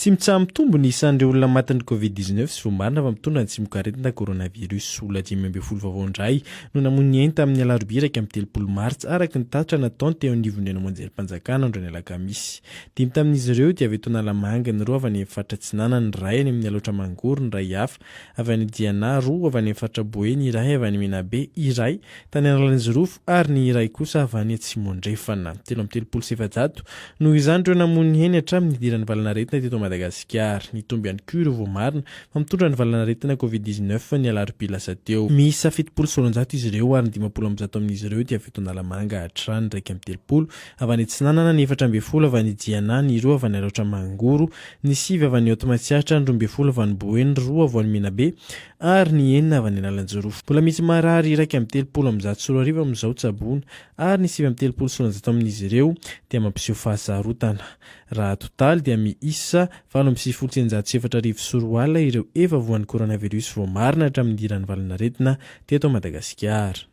Tsy mitsaha-mitombo ny isan'ireo olona matin'ny Covid 19 sy vao marina fa mitondra ny tsimokaretina coronavirus. Olona dimy ambin'ny folo vaovao indray no namoy ny ainy tamin'ny alarobia iraika amby telopolo martsa araka ny tatitra nataony teo anivon'ny ranomanjeri-panjakana andro ny alakamisy. Dimy tamin'izy ireo dia avy eto Analamanga, ny roa avy any amin'ny faritra Atsinanana, ny iray any amin'ny Alaotra Mangoro, ny iray hafa avy any Diana, roa avy any amin'ny faritra Boeny, iray avy any Menabe, iray tany Analanjirofo ary ny iray kosa avy any Atsimo-Andrefana. Telo amby telopolo sy efajato, noho izany, ireo namoy ny heny hatramin'ny nidiran'ny valanaretina teto Madagasikara. Nitombo ihany koa ireo voamarina fa mitondra ny valanaretina Covid dix-neuf ny alarobia lasa teo. Miisa fitopolo sy roanjato izy ireo ary ny dimampolo amby zato amin'izy ireo dia avy eto Analamanga hatrany, iraika amby telopolo avy any Atsinanana, ny efatra ambin'ny folo avy any Diana, ny roa avy any Alaotra Mangoro, ny sivy avy any Haute Matsiatra, ny roa ambin'ny folo avy any Boe, ny roa avy any Menabe ary ny enina avy any Analanjoro. Mbola misy marary iraika amby telopolo amby zato sy roa arivo amin'izao tsaboina ary ny sivy amby telopolo sy roanjato amin'izy ireo dia mampiseho fahasarotana. Raha totaly dia miisa valo amby sivifolo sy eninjato sy efatra arivo sy roa alina ireo efa voan'ny coronavirus voamarina hatramin'ny hiran'ny valan'aretina teto Madagasikara.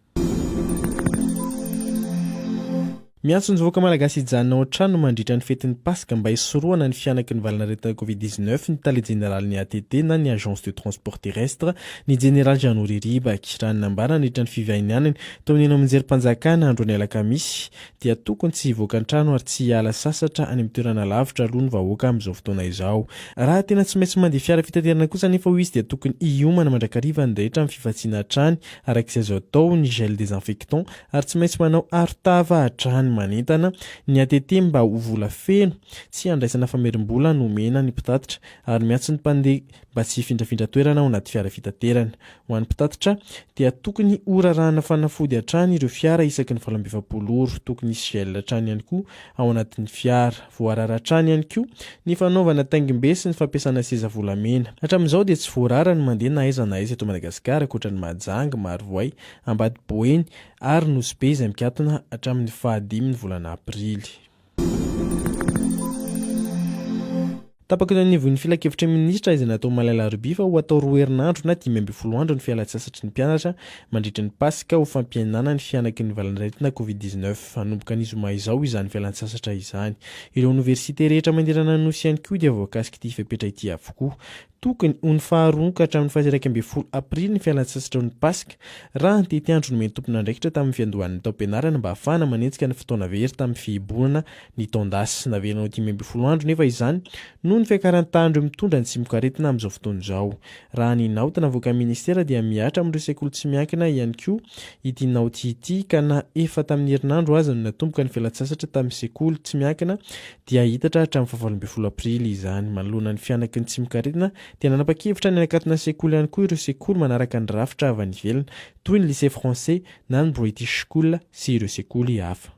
Miantso ny vahoaka malagasy hijanona ao an-trano mandritra ny fetin'ny Paska mba hisorohana ny fihanaky ny valan'aretina Covid dix-neuf ny tale jeneralin'ny ATT na ny Agence de transport terrestre, ny jeneraly Jeannot Riribaky. Raha ny nambara nandritra ny fivahinianany tao amin'ny Anamnjerim-panjakana androany alakamisy dia tokony tsy hivoaka an-trano ary tsy hiala sasatra any amin'ny toerana lavitra aloha ny vahoaka amin'izao fotoana izao. Raha tena tsy maintsy mandeha fiara fitaterana kosa anefa hoy izy dia tokony hiomana mandrakariva ny rehetra amin'ny fifantsiana hatrany Araka izay azo atao ny gel désinfectant ary tsy maintsy manao arotava hatrany manentana ny ATT mba ho vola feno, tsy handraisana famerim-bola no omena ny mpitatitra ary miantso ny mpandeha mba tsy hifindrafindra toerana ao anaty fiara fitaterana. Ho an'ny mpitatitra dia tokony horarahana fanafody hatrany ireo fiara isaky ny valo amby efapolo ora. Tokony hisy gel hatrany ihany koa ao anatin'ny fiara. Voarara hatrany ihany koa ny fanaovana taingim-be sy ny fampiasana seza volamena. Hatramin'izao dia tsy voarara ny mandeha na aiza na aiza eto Madagasikara ankoatra ny Mahajanga, Marovoay, Ambady Boeny ary Nosy Be izay mikatona hatramin'ny fahadimy ny volana aprily. Tapaka eo anivon'ny filankevitry ny minisitra izay natao omaly alarobia fa ho atao roa herinandro na dimy ambin'ny folo andro ny fialantsasatry ny mpianatra mandritry ny Paska ho fampihenana ny fihanaky ny valan'aretina covid dix-neuf. Hanomboka ny zoma izao izany fialantsasatra izany. Ireo oniversite rehetra manerana ny Nosy ihany koa dia voakasik'ity fepetra ity avokoa. Tokony ho ny faharoa ka hatramin'ny faha-iraika ambin'ny folo aprily ny fialantsasatra eo ny Paska, raha ny tetiandro nomen'ny tompon'andraikitra tamin'ny fiandohan'ny taom-pianarana mba hahafahana manenjika ny fotoana very tamin'ny fihibohana Ny taon-dasy naverina ho dimy ambin'ny folo andro nefa izany noho ny fiakaran'ny tahan'ireo mitondra ny tsimokaretina amin'izao fotoana izao. Raha ny naoty navoakan'ny minisitera dia mihatra amin'ireo sekoly tsy miankina ihany koa ity naoty ity ka na efa tamin'ny herinandro aza no natomboka ny fialan-tsasatra tamin'ny sekoly tsy miankina dia hihitatra hatramin'ny fahavalo ambin'ny folo aprily izany. Manoloana ny fihanaky ny tsimokaretina dia nanapa-kevitra ny hanakatona ny sekoly ihany koa ireo sekoly manaraka ny rafitra avy any ivelany toy ny Lycée Français na ny British School sy ireo sekoly hafa.